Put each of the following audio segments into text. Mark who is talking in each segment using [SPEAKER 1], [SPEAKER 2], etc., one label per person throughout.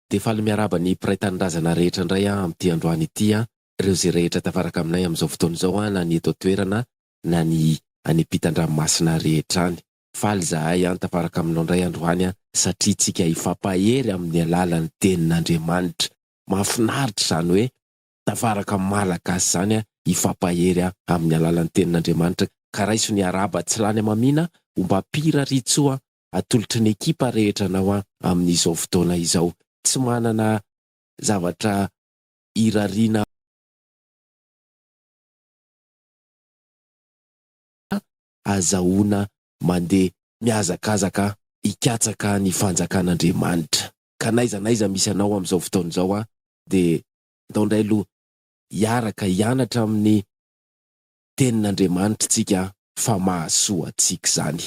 [SPEAKER 1] Dia faly miarahaba ny mpiray tanindrazana rehetra indray aho amin'ity androany ity an! Ireo izay rehetra tafaraka aminay amin'izao fotoana izao an, na ny eto an-toerana na ny any ampitan-dranomasina rehetra any. Faly izahay an tafaraka aminao indray androany an, satria tsika hifampahery amin'ny alalan'ny tenin'Andriamanitra. Mahafinaritra izany hoe tafaraka amin'ny maha-Malagasy izany an, hifampahery amin'ny alalan'ny tenin'Andriamanitra. Ka raiso ny arahaba tsy lany amamiana ombam-pira ry Tso an! atolotry ny ekipa rehetra anao aho amin'izao fotoana izao. Tsy manana zavatra hirariana aho. Azahoana mandeha mihazakazaka hikatsaka ny fanjakan'Andriamanitra. Ka n'aiza n'aiza misy anao amin'izao fotoana izao aho dia andao indray aloha hiaraka hianatra amin'ny Tenin'Andriamanitra isika fa mahasoa antsika izany.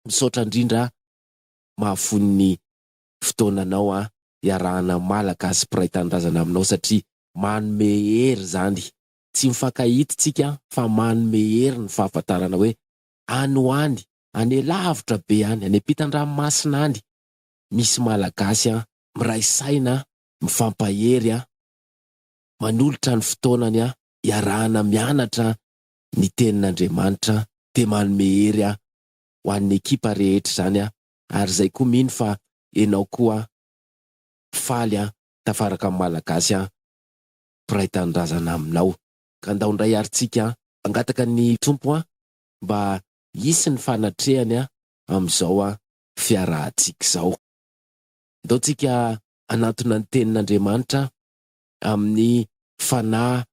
[SPEAKER 1] Misaotra indrindra a! Mahafoy ny fotoananao an! Iarahana Malagasy mpiray tanindrazana aminao satria manome hery izany. Tsy mifankahita isika fa manome hery ny fahafantarana hoe any ho any, any lavitra be any, any ampitan-dranomasina any misy Malagasy an! Miray saina an! Mifampahery an! Manolotra ny fotoanany an! Iarahana mianatra an! ny tenin'Andriamanitra dia manome hery aho ho an'ny ekipa rehetra izany aho ary izay koa mino fa enao koa faly aho tafaraka amin'ny Malagasy aho mpiray tanindrazana aminao ka ndao ndray ary tsika mangataka ny Tompo aho mba hisy ny fanatrehany aho amin'izao aho fiarahantsika izao ndao tsika hanantona ny tenin'Andriamanitra aho amin'ny fanahy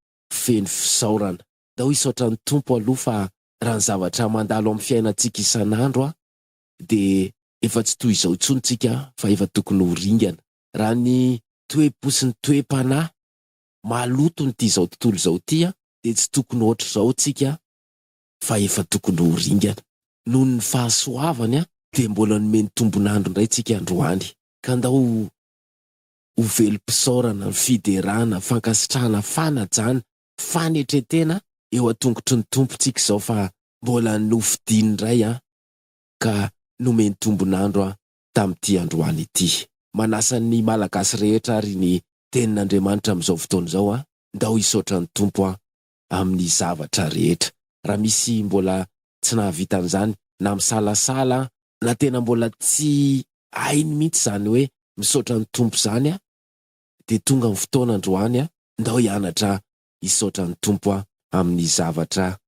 [SPEAKER 1] feno fisaorana. Dao hisaotra ny Tompo aloha fa raha ny zavatra mandalo amin'ny fiainantsika isan'andro a dia efa tsy toy izao intsony tsika fa efa tokony ho ringana. Raha ny toe-po sy ny toe-panahy maloton'ity izao tontolo izao ity a dia tsy tokony hoatr'izao tsika fa efa tokony ho ringana. Noho ny fahasoavany a dia mbola nomeny tombon'andro indray tsika androany ka ndao ho velom-pisaorana, fiderana, fankasitrahana, fanajana, fanetren-tena eo an-tongotry ny Tompontsika izao fa mbola nofidiny indray an, ka nomeny tombon'andro an tamin'ity androany ity. Manasa ny Malagasy rehetra ary ny Tenin'Andriamanitra amin'izao fotoana izao an, ndao hisaotra ny Tompo an, amin'ny zavatra rehetra. Raha misy mbola tsy nahavita an'izany, na misalasala, na tena mbola tsy hainy mihitsy izany hoe misaotra ny Tompo izany aho, dia tonga ny fotoana androany, ndao hianatra hisaotra ny Tompo aho amin'ny zavatra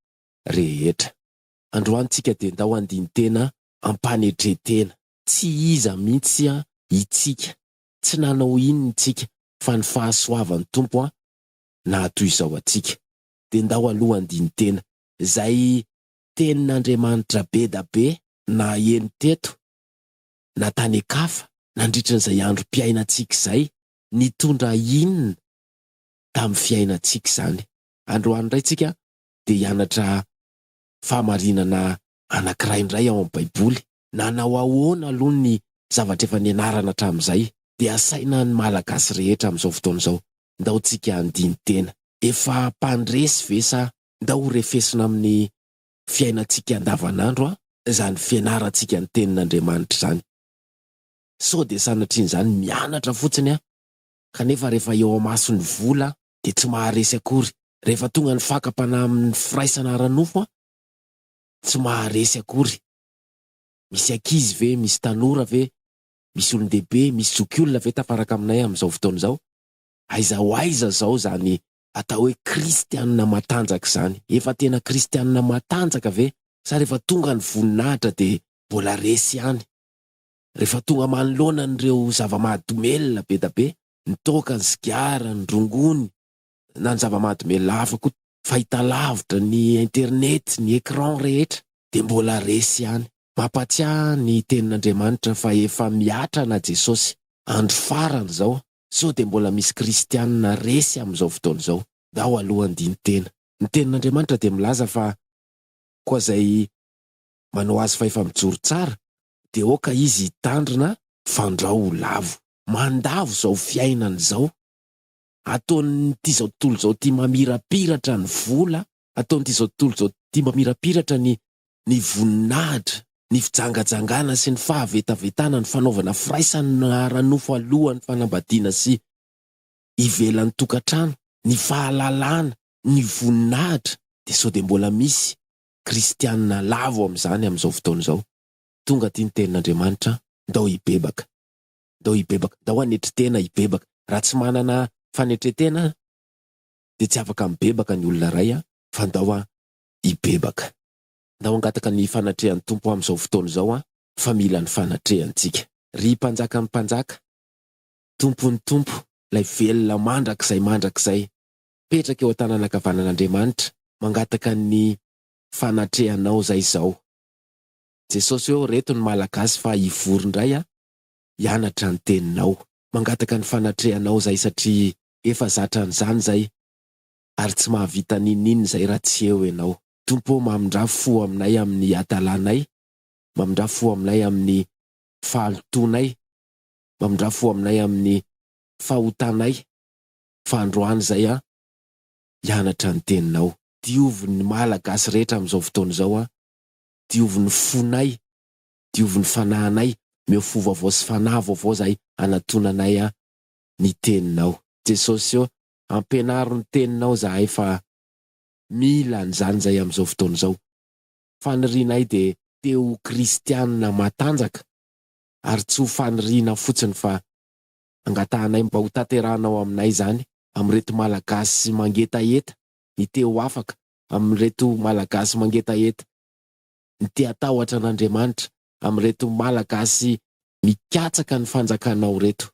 [SPEAKER 1] rehetra. Androany tsika dia ndao handini-tena am-panetren-tena. Tsy iza mihitsy itsika, tsy nanao inona itsika, fa ny fahasoavan'ny Tompo na toy izao antsika. Dia ndao aloha andinin-tena izay tenin'Andriamanitra be da be naheno teto na tany an-kafa nandritra izay androm-piainantsika izay, nitondra inona tamin'ny fiainantsika izany. Androany indray tsika dia hianatra fahamarinana anankiray indray ao amin'ny Baiboly. nanao ahoana aloha ny zavatra efa nianarana hatramin'izay dia asaina ny Malagasy rehetra amin'izao fotoana izao, ndao tsika handiny tena. Efa mpandresy ve sa ndao ho refesina amin'ny fiainantsika andavan'andro an izany fianarantsika ny tenin'Andriamanitra izany. Sao dia sanatrian'izany mianatra fotsiny an kanefa rehefa eo amaso ny vola dia tsy maharesy akory, rehefa tonga ny fakam-panahy amin'ny firaisana ara-nofo an tsy maharesy akory. Misy ankizy ve, misy tanora ve, misy olon-dehibe, misy zokiolona ve tafaraka aminay amin'izao fotoana izao? Aiza ho aiza izao izany atao hoe kristianina matanjaka izany? Efa tena kristianina matanjaka ve sa rehefa tonga ny voninahitra dia mbola resy ihany? Rehefa tonga manoloana an'ireo zava-mahadomelina be da be, ny toaka, ny sigara, ny rongony, na ny zava-mahadomelina hafa koa, fahitalavitra, ny internet, ny écran rehetra dia mbola resy ihany. Mampahatsiahy ny tenin'Andriamanitra fa efa mihatra ana Jesosy, andro farany izao, sao dia mbola misy kristianina resy amin'izao fotoana izao. Ndao aloha handini-tena. Ny tenin'Andriamanitra dia milaza fa koa izay manao azy fa efa mijoro tsara dia aoka izy hitandrina fandrao ho lavo. Mandavo izao fiainana izao. ataon'ity zao tontolo zao ty mamirapiratra ny vola, ataon'ity zao tontolo zao ty mamirapiratra ny ny voninahitra, ny fijangajangana sy ny fahavetavetana, ny fanaovana firaisana ara-nofo alohan'ny fanambadiana sy ivelan'ny tokantrano, ny fahalalana, ny voninahitra, dia sao dia mbola misy kristianina lavo amin'izany amin'izao fotoana izao? Tonga aty ny tenin'Andriamanitra, ndao hibebaka. dao hibebaka, dao hanetry tena hibebaka. Raha tsy manana fanetren-tena dia tsy afaka mibebaka ny olona iray fa ndao hibebaka. Ndao hangataka ny fanatrehan'ny Tompo amin'izao fotoana izao fa mila ny fanatrehany tsika. Ry Mpanjakan'ny mpanjaka, Tompon'ny tompo, ilay velona mandrakizay mandrakizay, mipetraka eo an-tanana ankavanan'Andriamanitra, mangataka ny fanatrehanao izay izao. Jesosy ô, reto ny Malagasy fa hivory indray hianatra ny Teninao. Mangataka ny fanatrehanao izay satria efa zatra an'izany izay ary tsy mahavita n'inon'inona izay raha tsy eo Ianao. Tompo ô, mamindrà fo aminay amin'ny hadalànay, mamindrà fo aminay amin'ny fahalotoanay, mamindrà fo aminay amin'ny fahotanay, fa androany izay an, hianatra ny Teninao. Diovy ny Malagasy rehetra amin'izao fotoana izao an, diovy ny fonay diovy ny fanahinay, meo fo vaovao sy fanahy vaovao zahay hanatonanay an ny teninao. Jesosy ô ampianaro ny teninao zahay fa mila an zany zahay am zao fotoana zao. Fanirianay de te ho kristianina matanjaka ary tsy ho faniriana fotsiny fa angatahanay mba ho tanterahanao aminay zany am reto malagasy mangetaheta ny te ho afaka am reto malagasy mangetaheta ny te-hatahotra an'Andriamanitra amin'ireto Malagasy mikatsaka ny fanjakanao ireto.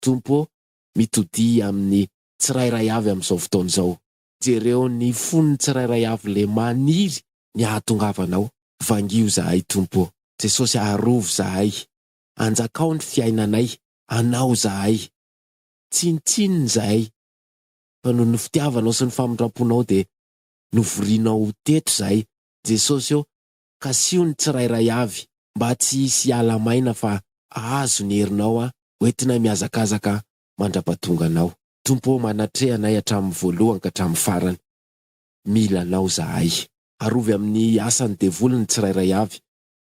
[SPEAKER 1] Tompo ô, mitodihy amin'ny tsirairay avy amin'izao fotoana izao. Jereo ny fon'ny tsirairay avy le maniry ny hahatongavanao. Vangiho zahay Tompo ô. Jesosy arovy zahay. Anjakao ny fiainanay. Anao zahay. Tsinontsinona zahay fa noho ny fitiavanao sy ny famindramponao dia novorianao ho teto zahay Jesosy eo, Kasiho ny tsirairay avy mba tsy hisy hiala maina fa hahazo ny herinao aho hoentinay mihazakazaka mandrapatonga anao. Tompo ô manatreha anay hatramin'ny voalohany ka hatramin'ny farany. Mila anao zahay. Arovy amin'ny asan'ny devoly ny tsirairay avy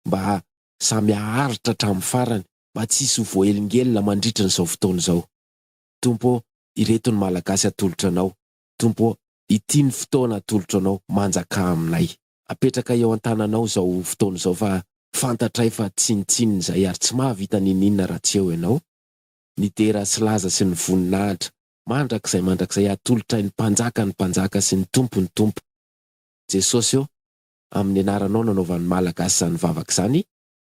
[SPEAKER 1] mba samy haharitra hatramin'ny farany mba tsy hisy ho voaelingelina mandritrin'izao fotoana izao. Tompo ô, ireto ny Malagasy atolotra anao Tompo ô, ity ny fotoana atolotro Anao, manjakà aminay. Apetraka eo an-tananao izao fotoana izao fa fantatray fa tsinontsinona izahay ary tsy mahavita n'inon'inona raha tsy eo Ianao. Midera sy laza sy ny voninahitra mandrakizay mandrakizay atolotray ny Mpanjaka ny Mpanjaka sy ny Tompo ny Tompo. Jesosy ô, amin'ny Anaranao nanaovan'ny Malagasy izany vavaka izany,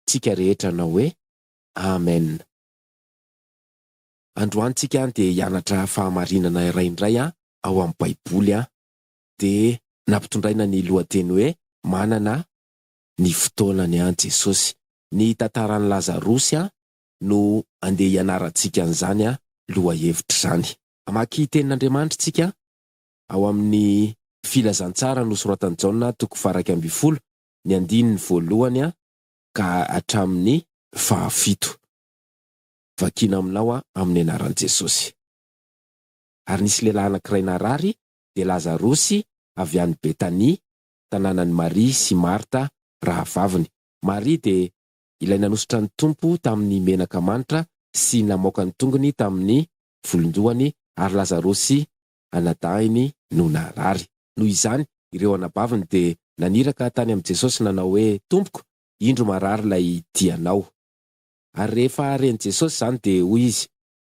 [SPEAKER 1] tsika rehetra nanao hoe, Amen. Androany tsika handeha hianatra fahamarinana iray indray an ao amin'ny baiboly an! Dia nampitondraina ny lohateny hoe Manana ny fotoanany an Jesosy. Ny tantaran'i Lazarosy an no andeha hianarantsika an'izany an lohahevitra izany. Hamaky tenin'Andriamanitra tsika ao amin'ny Filazantsara nosoratan'i Jaona toko faharaika ambin'ny folo ny andininy voalohany an ka hatramin'ny fahafito. Vakina aminao aho amin'ny anaran'i Jesosy. Ary nisy lehilahy anankiray narary, dia Lazarosy avy any Betania, tanànan'i Maria sy Marta rahavaviny. Maria dia ilay nanosotra ny Tompo tamin'ny menaka manitra sy namoaka ny tongony tamin'ny volon-dohany, ary Lazarosy anadahiny no narary. Noho izany, ireo anabaviny dia naniraka tany amin'i Jesosy nanao hoe, Tompoko, indro marary ilay tianao. ary rehefa ren'i Jesosy izany dia hoy izy,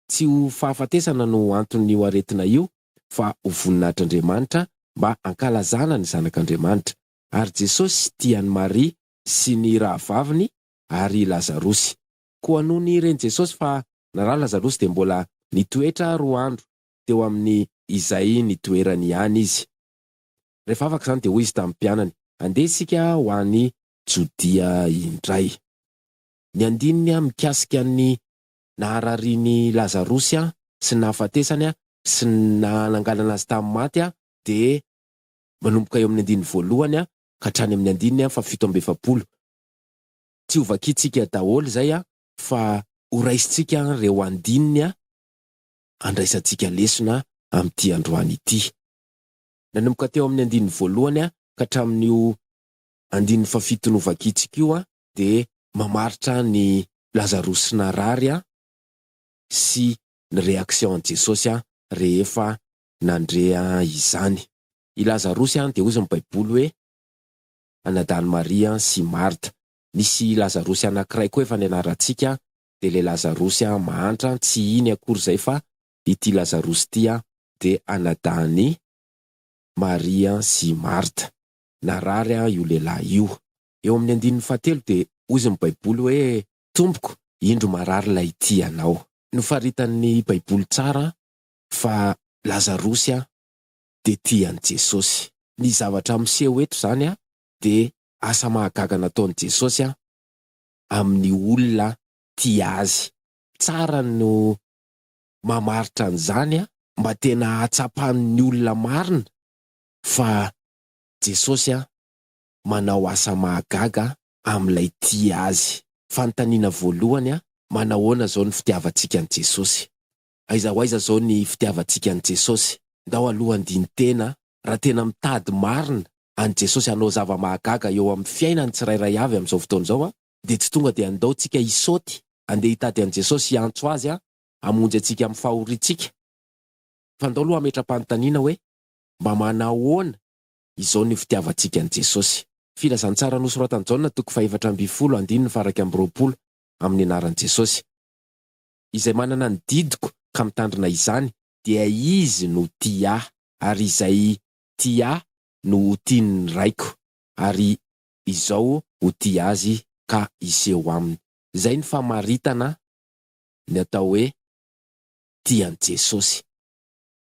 [SPEAKER 1] Tsy ho fahafatesana no anton'io aretina io, fa ho voninahitr'Andriamanitra mba hankalazana ny Zanak'Andriamanitra. Ary Jesosy tia an'i Maria sy ny rahavaviny ary i Lazarosy. Koa nony ren'i Jesosy fa narary Lazarosy dia mbola nitoetra roa andro teo amin'ny izay nitoerany ihany izy. Rehefa afaka izany dia hoy izy tamin'ny mpianany, Andeha isika ho any Jodia indray. Ny andininy mikasika ny nahararian'i Lazarosy sy ny nahafatesany sy ny nanangalana azy tamin'ny maty dia manomboka eo amin'ny andininy voalohany ka hatrany amin'ny andininy fahafito amby efapolo. Tsy ho vakintsika daholo izay fa ho raisintsika ireo andininy handraisantsika lesona amin'ity androany ity. Nanomboka teo amin'ny andininy voalohany ka hatramin'io andininy fahafito novakintsika io dia mamaritra an'i Lazarosy narary sy ny réaction an'i Jesosy rehefa nandre izany. I Lazarosy dia hozy ny baiboly hoe anadahiny Maria sy Martha. Misy Lazarosy anankiray koa efa nianarantsika dia ilay Lazarosy mahantra tsy iny akory izay fa ity Lazarosy ity dia anadahin'i Maria sy Martha. Narary io lehilahy io. eo amin'ny andininy fahatelo dia hozy ny baiboly hoe tompoko indro marary ilay tia anao. Nofaritan'ny baiboly tsara fa lazarosy dia tia an'i jesosy. Ny zavatra miseho eto izany dia asa mahagaga nataon'i jesosy amin'ny olona tia azy. Tsara no mamaritra an'izany mba tena ahatsapan'ny olona marina fa jesosy manao asa mahagaga amin'ilay tia azy. Fanontaniana voalohany, Manahoana izao ny fitiavantsika an'i Jesosy? Aiza ho aiza izao ny fitiavantsika an'i Jesosy? Ndao aloha handini-tena raha tena mitady marina an'i Jesosy hanao zava-mahagaga eo amin'ny fiainan'ny tsirairay avy amin'izao fotoana izao dia tsy tonga dia ndao tsika hisaoty handeha hitady an'i Jesosy hiantso Azy hamonjy antsika amin'ny fahoriantsika fa ndao aloha hametra-panontaniana hoe mba manahoana Izao no fitiavantsika an'i Jesosy. Filazantsara nosoratan'i Jaona toko fahefatra ambin'ny folo andininy faharaika amby roapolo amin'ny anaran'i Jesosy. Izay manana ny didiko ka mitandrina izany dia izy no tia Ahy, ary izay tia Ahy no ho tian'ny Raiko, ary Izaho ho tia azy ka hiseho aminy. Izay no famaritana ny atao hoe tia an'i Jesosy.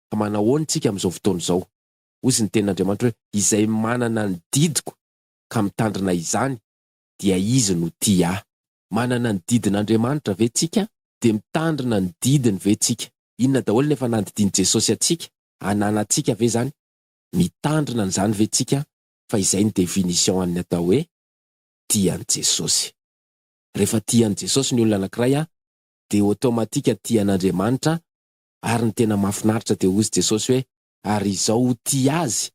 [SPEAKER 1] Ka manao ahoana isika amin'izao fotoana izao? Hoy izy ny tenin'Andriamanitra hoe, Izay manana ny didiko ka mitandrina izany, dia izy no tia ahy. Manana ny didin'Andriamanitra ve tsika? Dia mitandrina ny didiny ve tsika? Inona daholo ny efa nandidian'i Jesosy antsika? Ananantsika ve izany? Mitandrina an'izany ve tsika? Fa izay ny definition an'ny atao hoe, tia an'i Jesosy. Rehefa tia an'i Jesosy ny olona anankiray an, dia automatique tia an'Andriamanitra, ary ny tena mahafinaritra dia hoy izy Jesosy hoe, ary izao ho tia azy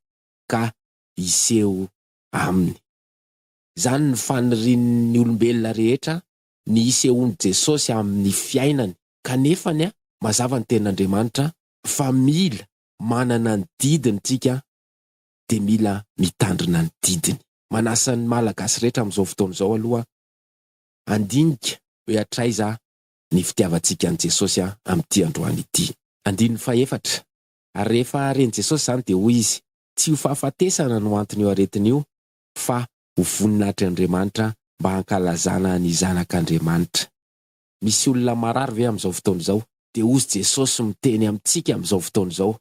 [SPEAKER 1] ka hiseho aminy. Izany no fanirian'ny olombelona rehetra ny hisehoan'i Jesosy amin'ny fiainany. Kanefa ny a, mazava ny tenin'Andriamanitra fa mila manana ny didiny tsika dia mila mitandrina ny didiny. Manasa ny Malagasy rehetra amin'izao fotoana izao aloha handinika hoe hatraiza ny fitiavantsika an'i Jesosy amin'ity androany ity. Andininy fahefatra, Ary rehefa ren'i Jesosy izany dia hoy Izy, Tsy io fahafatesana no anton'io aretina io, fa ho voninahitr'i Andriamanitra mba hankalazana ny Zanak'Andriamanitra. Misy olona marary ve amin'izao fotoana izao? Dia hozy Jesosy miteny amintsika amin'izao fotoana izao,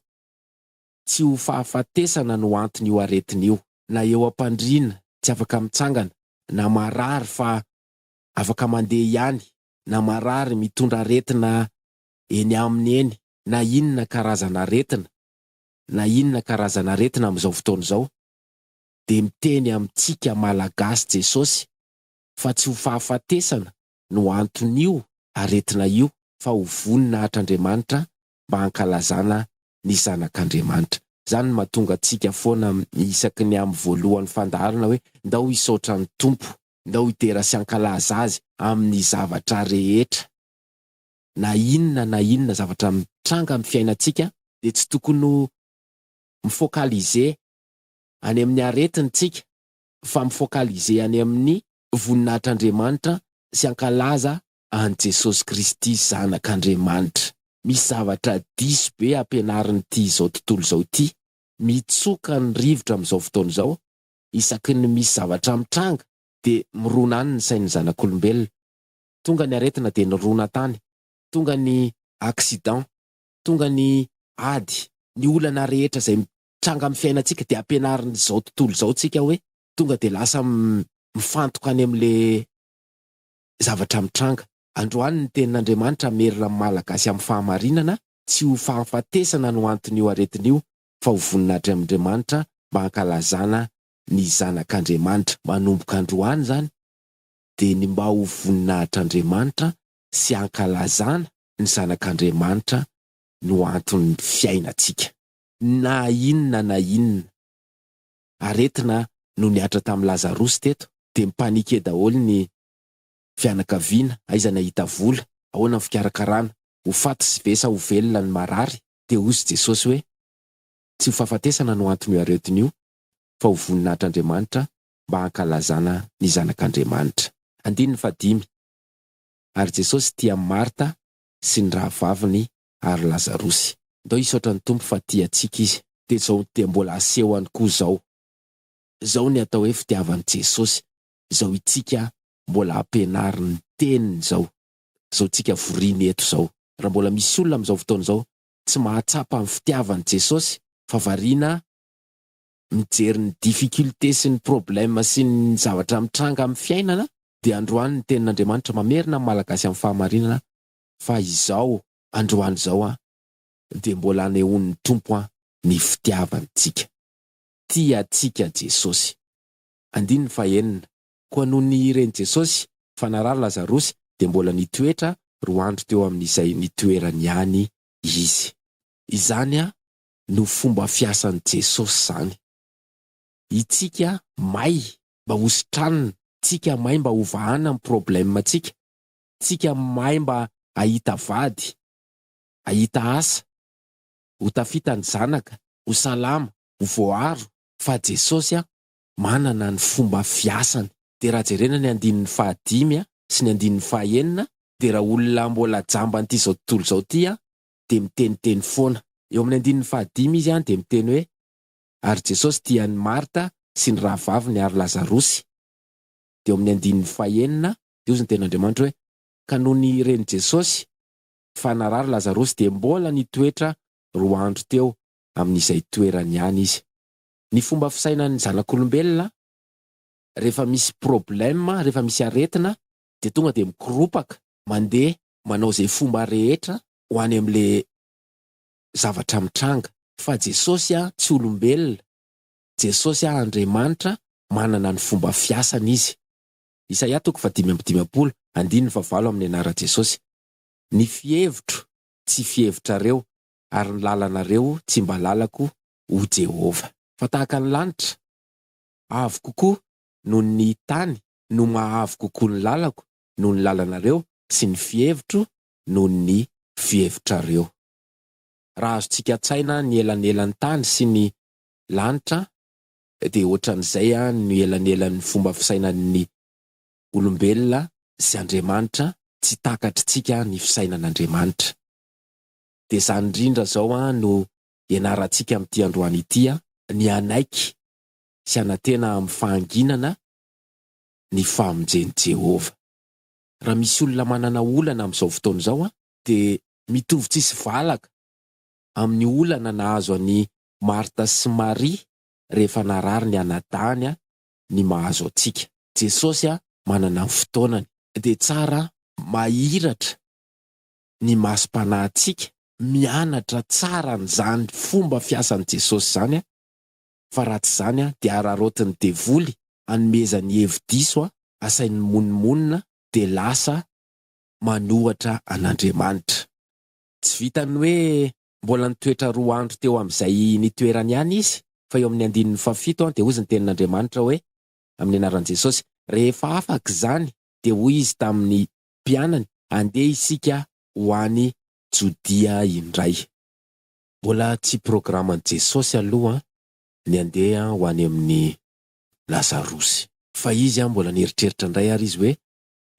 [SPEAKER 1] Tsy ho fahafatesana no anton'io aretina io, na eo am-pandriana, tsy afaka mitsangana, na marary fa afaka mandeha ihany, na marary mitondra aretina eny aminy eny, na inona karazana aretina na inona karazana aretina amin'izao fotoana izao, dia miteny amintsika Malagasy Jesosy fa tsy ho fahafatesana no anton'io aretina io fa ho vonona atr'Andriamanitra mba hankalazana ny zanak'Andriamanitra. Izany no mahatonga antsika foana isaky ny amin'ny voalohan'ny fandaharana hoe, Ndao hisaotra ny Tompo. Ndao hidera sy hankalaza Azy amin'ny zavatra rehetra. Na inona na inona zavatra mitranga amin'ny fiainantsika dia tsy tokony ho mi-focaliser any amin'ny aretiny tsika fa mi-focaliser any amin'ny voninahitr'Andriamanitra sy hankalaza an'i Jesosy Kristy Zanak'Andriamanitra. Misy zavatra diso be ampianarin'ity izao tontolo izao ity. Mitsoka ny rivotra amin'izao fotoana izao isaky ny misy zavatra mitranga dia mirona any ny sain'ny zanak'olombelona. Tonga ny aretina dia nirona tany, tonga ny accident, tonga ny ady, ny olana rehetra izay mitranga amin'ny fiainantsika dia ampianarin'izao tontolo izao tsika hoe tonga dia lasa mifantoka any amin'ilay zavatra mitranga. Androany ny tenin'Andriamanitra hamerina ny Malagasy amin'ny fahamarinana, tsy ho fahafatesana no anton'io aretina io fa ho voninahitry Andriamanitra mba hankalazana ny Zanak'Andriamanitra. Manomboka androany izany dia ny mba ho voninahitr'Andriamanitra sy hankalazana ny Zanak'Andriamanitra no anton'ny fiainantsika. Na inona na inona aretina no nihatra tamin'i Lazarosy teto dia mi-paniquer daholo ny fianakaviana, aiza nahita vola, ahoana ny fikarakarana, ho faty ve sa ho velona ny marary? dia hozy Jesosy hoe, Tsy ho fahafatesana no anton'io aretina io, fa ho voninahitr'Andriamanitra mba hankalazana ny Zanak'Andriamanitra. Andininy fahadimy, Ary Jesosy tia an'i Marta sy ny rahavaviny ary Lazarosy. Ndao hisaotra ny Tompo fa tia antsika Izy. Dia izao dia mbola haseho any koa izao. Izao ny atao hoe fitiavan'i Jesosy, izao itsika mbola hampianarin'ny Teniny izao. izao tsika voriny eto izao. Raha mbola misy olona amin'izao fotoana izao tsy mahatsapa ny fitiavan'i Jesosy fa variana mijery ny difficultés sy ny problèmes sy ny zavatra mitranga amin'ny fiainana dia androany ny tenin'Andriamanitra mamerina ny Malagasy amin'ny fahamarinana fa izao androany izao an dia mbola anehoan'ny Tompo an ny fitiavantsika. Tia antsika Jesosy. Andininy fahenina, Koa nony ren'i Jesosy fa narary Lazarosy dia mbola nitoetra roa andro teo amin'izay nitoerany ihany izy. Izany no fomba fiasan'i Jesosy izany. Itsika may mba ho sitranina, tsika may mba ho vahana ny problème tsika, tsika may mba ahita vady, ahita asa, ho tafita ny zanaka, ho salama, ho voaaro, fa Jesosy an! manana ny fomba fiasany. Dia raha jerena ny andininy faha dimy sy ny andininy faha enina dia raha olona mbola jamban'ity izao tontolo izao ity aho dia miteniteny foana. Eo amin'ny andininy faha dimy izy dia miteny hoe, Ary Jesosy tia an'i Marta sy ny rahavaviny ary Lazarosy. Dia eo amin'ny andininy faha enina dia hozy ny tenin'Andriamanitra hoe, Ka nony ren'i Jesosy fa narary Lazarosy dia mbola nitoetra roa andro teo amin'izay toerany ihany izy. ny fomba fisainan'ny zanak'olombelona rehefa misy problème, rehefa misy aretina dia tonga dia mikoropaka mandeha manao izay fomba rehetra ho any amin'ilay zavatra mitranga. Fa Jesosy a, tsy olombelona, Jesosy a, Andriamanitra, manana ny fomba fiasany Izy. Isaia toko fahadimy amby dimampolo, andininy fahavalo amin'ny anaran'i Jesosy. Ny fihevitro tsy fihevitrareo ary ny lalanareo tsy mba lalako ho Jehovah. Fa tahaka ny lanitra avo kokoa noho ny tany no maha-avo kokoa ny lalako noho ny lalanareo sy ny fihevitro noho ny fihevitrareo. Raha azontsika an-tsaina ny elanelan'ny tany sy ny lanitra dia hoatran'izay no elanelan'ny fomba fisainan'ny olombelona sy Andriamanitra, tsy takatr'tsika ny fisainan'Andriamanitra. Dia izany indrindra izao no ianarantsika amin'ity androany ity ny hanaiky sy hanantena amin'ny fahanginana ny famonjen'i Jehovah. Raha misy olona manana olana amin'izao fotoana izao, dia mitovy tsisy valaka amin'ny olana nahazo an'i Marta sy Maria rehefa narary ny anadahiny ny mahazo antsika. Jesosy manana ny fotoanany. Dia tsara mahiratra ny masom-panahintsika. Mianatra tsara an'izany fomba fiasan'i Jesosy izany fa raha tsy izany dia araraotin'ny devoly hanomezany hevi-diso, asainy mimonomonona dia lasa manohatra an'Andriamanitra. Tsy vitan'ny hoe mbola nitoetra roa andro teo amin'izay nitoerany ihany izy fa eo amin'ny andininy fahafito dia hozy ny tenin'Andriamanitra hoe, amin'ny anaran'i Jesosy, rehefa afaka izany dia hoy izy tamin'ny mpianany, andeha isika ho any Jodia indray. Mbola tsy programan'i Jesosy aloha ny handeha ho any amin'i Lazarosy. Fa izy mbola nieritreritra indray ary izy hoe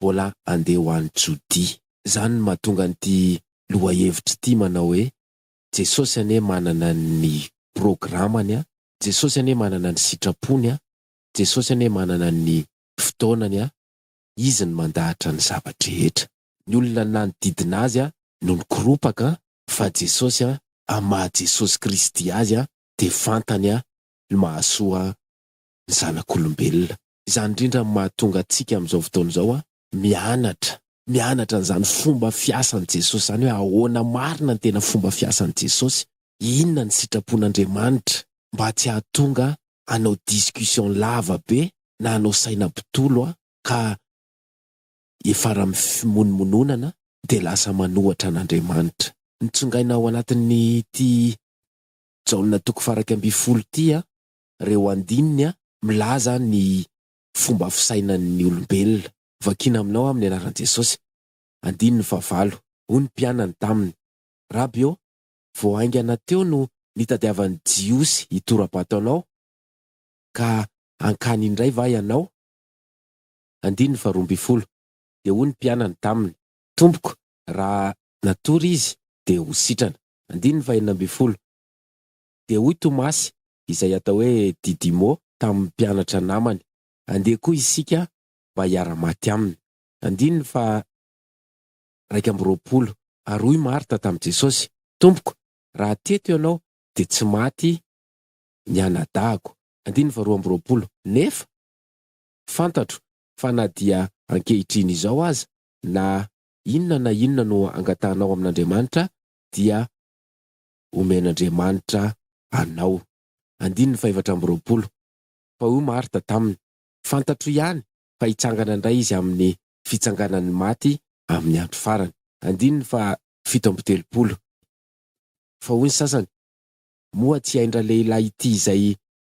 [SPEAKER 1] mbola handeha ho any Jodia. Izany no mahatonga an'ity lohahevitra ity manao hoe, Jesosy anie manana ny programany, Jesosy anie manana ny sitrapony, Jesosy anie manana ny fotoanany, Izy no mandahatra ny zava-drehetra. Ny olona nanodidina Azy no nikoropaka fa Jesosy an, amin'ny maha Jesosy Kristy Azy dia fantany an, ny mahasoa ny zanak'olombelona. Izany indrindra no mahatonga antsika amin'izao fotoana izao an, mianatra, mianatra an'izany fomba fiasan'i Jesosy izany hoe ahoana marina ny tena fomba fiasan'i Jesosy, inona ny sitrapon'Andriamanitra mba tsy hahatonga hanao discussion lava be na hanao saina mpitolo aho ka hiafara amin'ny fimonomononana dia lasa manohatra an'Andriamanitra. Notsongaina ao anatin'ity Jaona toko faha iraika ambin'ny folo ity aho, ireo andininy milaza ny fomba fisainan'ny olombelona. Vakina aminao aho amin'ny anaran'i Jesosy. Andininy faha valo, hoy ny mpianany taminy, Raby ô, vao haingana teo no nitadiavan'ny Jiosy hitora-bato anao, ka hankany indray va ianao? Andininy faharoa ambin'ny folo, Dia hoy ny mpianany taminy. Tompoko, raha natory izy, dia ho sitrana. Andininy fahenina ambin'ny folo, Dia hoy Tomasy, izay atao hoe Didimo, tamin'ny mpianatra namany, Andeha koa isika mba hiara-maty aminy. Andininy faha. iraika amby roapolo, ary hoy Marta tamin'i Jesosy, Tompoko, raha teto Ianao, dia tsy maty ny anadahiko. Andininy faharoa amby roapolo, Nefa fantatro fa na dia ankehitriny izao aza, na inona na inona no angatahanao amin'Andriamanitra, dia homen'Andriamanitra anao. Andininy fahefatra amby roapolo, Fa hoy Marta taminy, Fantatro ihany fa hitsangana indray Izy amin'ny fitsanganan'ny maty amin'ny andro farany. Andininy faha fito amby telopolo. Fa hoy ny sasany, Moa tsy ain-dralehilahy ity izay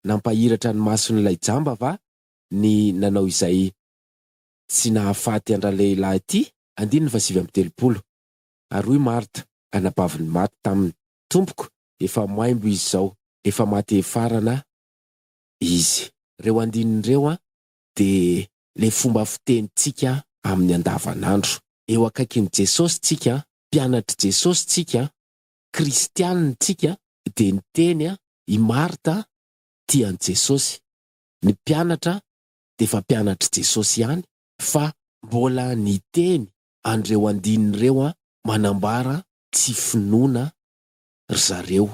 [SPEAKER 1] nampahiratra ny mason'ilay jamba va ny nanao izay tsy nahafaty an-dralehilahy ity? Andininy faha sivy amby telopolo. Ary hoy Marta, anabavin'ny maty, taminy, Tompoko, efa maimbo izy izao, efa maty hefarana izy. Ireo andininy ireo dia ilay fomba fitenintsika amin'ny andavanandro. Eo akaikin'i Jesosy isika, mpianatr'i Jesosy isika, kristianina isika, dia niteny i Marta tia an'i Jesosy. Ny mpianatra dia efa mpianatr'i Jesosy ihany fa mbola niteny an'ireo andininy ireo manambara tsy finoana ry zareo.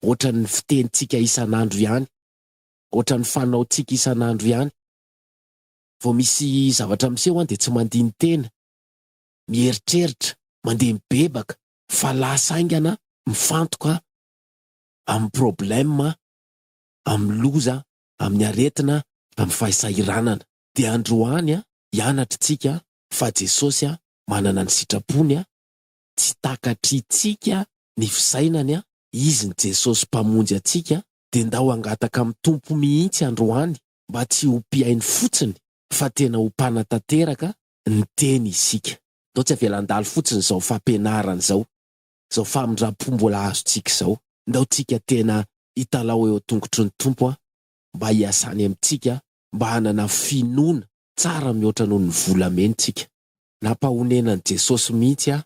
[SPEAKER 1] Ohatran'ny fitenintsika isan'andro ihany ohatran'ny fanaontsika isan'andro ihany. Vao misy zavatra miseho an dia tsy mandini-tena, mieritreritra, mandeha mibebaka, fa lasa haingana mifantoka amin'ny problème, amin'ny loza, amin'ny aretina, amin'ny fahisahiranana. Dia androany an, hianatr'tsika fa Jesosy an manana ny sitrapony an, tsy takatritsika ny fisainany an, Izy ny Jesosy Mpamonjy antsika dia ndao hangataka amin'ny Tompo mihitsy androany mba tsy ho mpihaino fotsiny fa tena ho mpanatanteraka ny teny isika. Ndao tsy avela handalo fotsiny izao fampianarana izao, izao famindram-po mbola azontsika izao. Ndao tsika tena hitalaho eo an-tongotry ny Tompo mba hiasany amintsika mba hanana finoana tsara mihoatra noho ny volameny tsika. Nampahonenan'i Jesosy mihitsy aho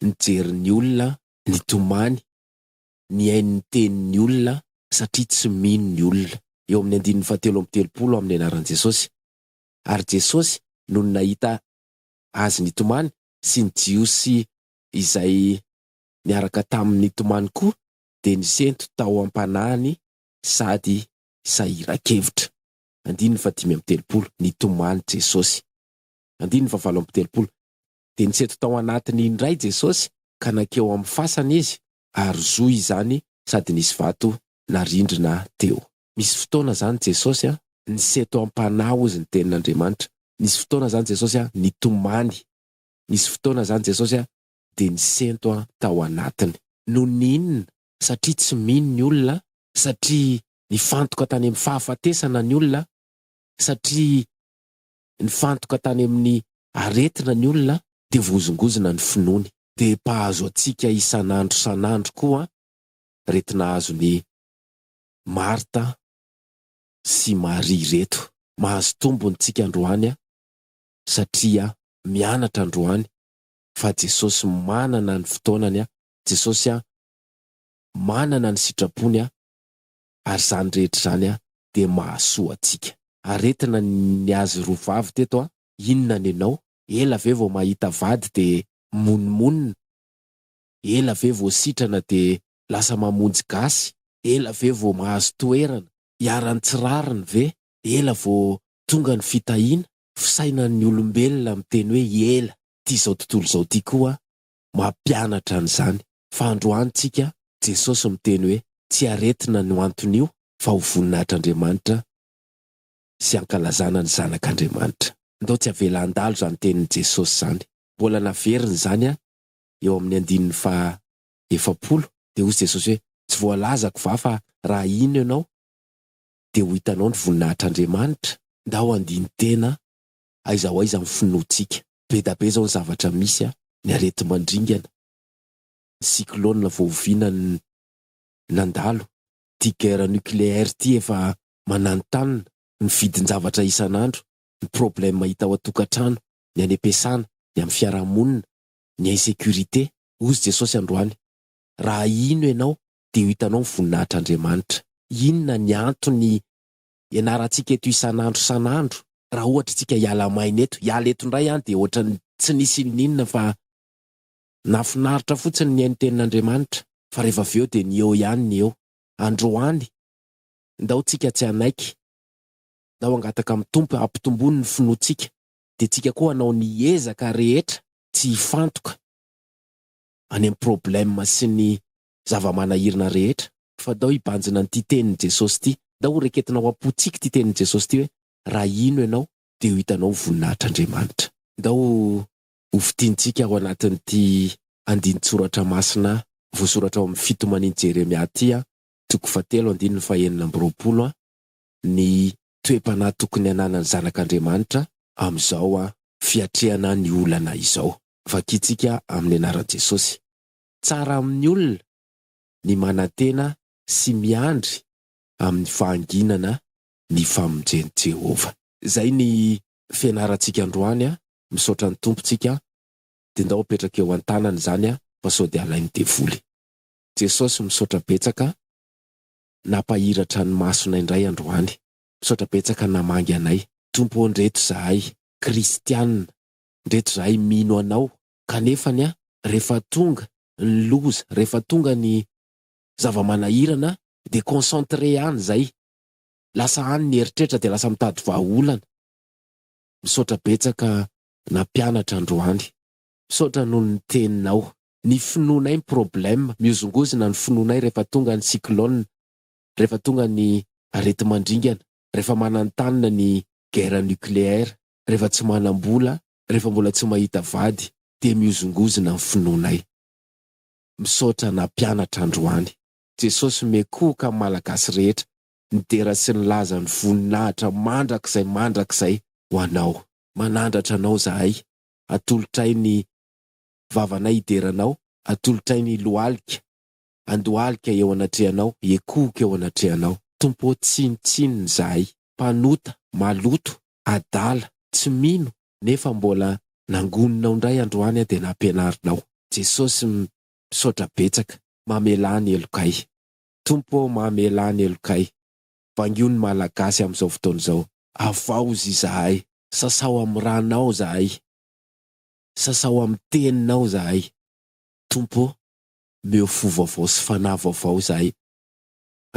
[SPEAKER 1] nijery ny olona nitomany mihaino ny tenin'ny olona satria tsy mino ny olona, eo amin'ny andininy fahatelo amby telopolo amin'ny anaran'i Jesosy. Ary Jesosy, nony nahita Azy nitomany, sy ny Jiosy izay niaraka taminy nitomany koa, dia nisento tao am-panahiny sady sahiran-kevitra. Andininy fahadimy amby telopolo, Nitomany Jesosy. Andininy fahavalo amby telopolo, Dia nisento tao anatiny indray Jesosy, ka nankeo amin'ny fasana Izy, ary zo izany sady nisy vato na rindrina teo. Misy fotoana zany Jesosy a niseto ampanahy hozy ny tenin'Andriamanitra, nisy fotoana zany Jesosy a nitomany, nisy fotoana zany Jesosy a dia nisento a tao anatiny. Noho ny inona? Satria tsy mino ny olona, satria nifantoka tany amin'ny fahafatesana ny olona, satria Nifantoka tany amin'ny aretina ny olona dia voazongozona ny finoany. Dia mpahazo antsika isan'andro san'andro koa reto nahazo ny Marta sy Maria reto. Mahazo tombony tsika androany satria mianatra androany fa Jesosy manana ny fotoanany, Jesosy manana ny sitrapony ary izany rehetra izany dia mahasoa antsika. Aretina ny azy roa vavy teto a! Inona ny anao? Ela ve vao mahita vady dia mimonomonona? Ela ve vao sitrana dia lasa mamonjy gasy? Ela ve vao mahazo toerana? Iharan'ny tsy rariny ve? Ela vao tonga ny fitahiana? Fisainan'ny olombelona miteny hoe ela. Ty izao tontolo izao ty koa mampianatra an'izany. Fa androany tsika, Jesosy miteny hoe tsy aretina ny ho anton'io fa ho voninahitr'Andriamanitra sy hankalazana ny zanak'Andriamanitra. Ndao tsy avela handalo izany tenin'i Jesosy izany. Mbola naveriny izany an, eo amin'ny andininy faha efapolo, dia hozy Jesosy hoe, tsy voalazako va fa raha hino ianao dia ho hitanao ny voninahitr'Andriamanitra? Ndao handini-tena aiza ho aiza ny finoantsika. Be da be izao ny zavatra misy a, ny areti-mandringana, ny cyclone voaoviana ny nandalo, ity guerre nucléaire ity efa mananontanona, ny vidin-javatra isan'andro, ny problème hita ao an-tokantrano, ny any am-piasana, ny amin'ny fiarahamonina, ny insécurité. Hozy Jesosy androany, Raha hino ianao, dia ho hitanao ny voninahitr'Andriamanitra. Inona ny antony ianarantsika eto isan'andro isan'andro, raha ohatra isika hiala maina eto, hiala eto indray aho dia ohatran'ny tsy nisy inoninona fa nahafinaritra fotsiny nihaino tenin'Andriamanitra, fa rehefa avy eo dia ny eo ihany ny eo. Androany, ndao tsika tsy hanaiky, ndao hangataka amin'ny Tompo hampitomboany ny finoantsika, dia tsika koa hanao ny ezaka rehetra tsy hifantoka any amin'ny problème sy ny zava-manahirina rehetra. Fa dao hibanjina an'ity tenin'i Jesosy ity, dao ho reketinao am-pontsika ity tenin'i Jesosy ity hoe, Raha hino ianao, dia ho hitanao ny voninahitr'Andriamanitra. Dao ho fintintsika ao anatin'ity andinin-tsoratra masina voasoratra ao amin'ny fitomanin'i Jeremia ity, toko fahatelo, andininy fahenina amby roapolo, ny toe-panahy tokony hananan'ny zanak'Andriamanitra amin'izao fiatrehana ny olana izao. Vakintsika amin'ny anaran'i Jesosy. Tsara amin'ny olona ny manantena sy miandry amin'ny fahanginana ny famonjen'i Jehovah. Izay ny fianarantsika androany a! Misaotra ny Tompo tsika a! Dia ndao apetraka eo an-tanany izany a! Fa sao dia alain'ny devoly. Jesosy misaotra betsaka nampahiratra ny masonay indray androany. Misaotra betsaka namangy anay. Tompo ô ndreto zahay kristianina, ndreto zahay mino Anao Kanefa anie rehefa tonga ny loza, rehefa tonga ny zava-manahirana dia concentré any izay, lasa any ny eritreritra dia lasa mitady vahaolana. Misaotra betsaka nampianatra androany. Misaotra noho ny teninao. Ny finoanay ny problème, mihozongozona ny finoanay rehefa tonga ny cyclone, rehefa tonga ny areti-mandringana, rehefa manantanina ny guerre nucléaire, rehefa tsy manam-bola, rehefa mbola tsy mahita vady dia mihozongozona ny finoanay. Misaotra nampianatra androany. Jesosy mekoka ny Malagasy rehetra nidera sy nilaza ny voninahitra mandrakizay mandrakizay ho Anao. Manandratra Anao zahay, atolotray ny vavanay hidera Anao, atolotray ny lohalika handohalika eo anatrehanao, hiekohoka eo anatrehanao. Tompo ô, tsinontsinona izahay, mpanota, maloto, adala, tsy mino nefa mbola nangoninao ndray androany aho dia nampianarinao. Jesosy misaotra betsaka mamelà ny helokay. Tompo ô mamelà ny helokay. Bangio ny malagasy amin'izao fotoana izao. Avaozy izahay, sasao amin'ny ranao izahay, sasao amin'ny teninao izahay. Tompo ô, omeo fo vaovao sy fanahy vaovao izahay.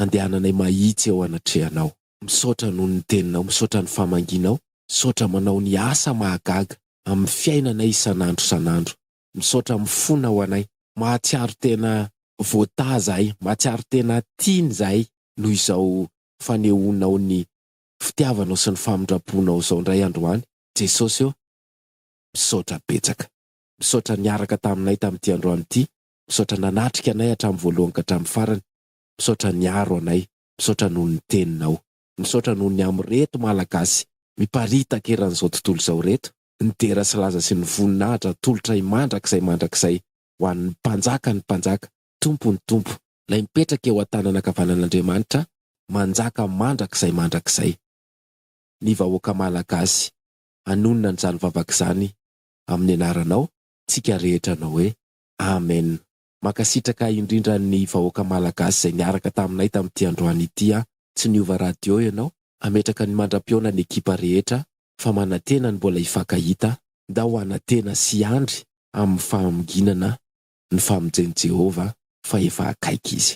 [SPEAKER 1] andehananay mahitsy eo anatrehanao. Misaotra noho ny teninao, misaotra ny famangianao, misaotra manao ny asa mahagaga amin'ny fiainanay isan'andro isan'andro. Misaotra mifona ho anay, mahatsiaro tena voataha izahay, mahatsiaro tena tiana izahay noho izao fanehoanao ny fitiavanao sy ny famindramponao izao indray androany Jesosy ô, misaotra betsaka. Misaotra niaraka taminay tamin'ity androany ity, misaotra nanatrika anay hatramin'ny voalohany ka hatramin'ny farany, Misaotra niaro anay, misaotra noho ny teninao. Misaotra noho ny amin'ireto Malagasy miparitaka eran'izao tontolo izao ireto, nidera sy laza sy nivoninahitra atolotray mandrakizay mandrakizay ho an'ny Mpanjakan'ny mpanjaka, Tompon'ny tompo, Ilay mipetraka eo an-tanana ankavanan'Andriamanitra, manjaka mandrakizay mandrakizay. Ny vahoaka Malagasy hanonona an'izany vavaka izany amin'ny anaranao, tsika rehetra anao hoe Amen. Mankasitraka indrindra ny vahoaka Malagasy izay niaraka taminay tamin'ity androany ity an! Tsy niova radio ianao, hametraka ny mandra-pihaona ny ekipa rehetra fa manantena ny mbola hifankahita, ndao hanantena sy hiandry amin'ny fahaminginana ny famonjen'i Jehovah fa efa akaiky izy.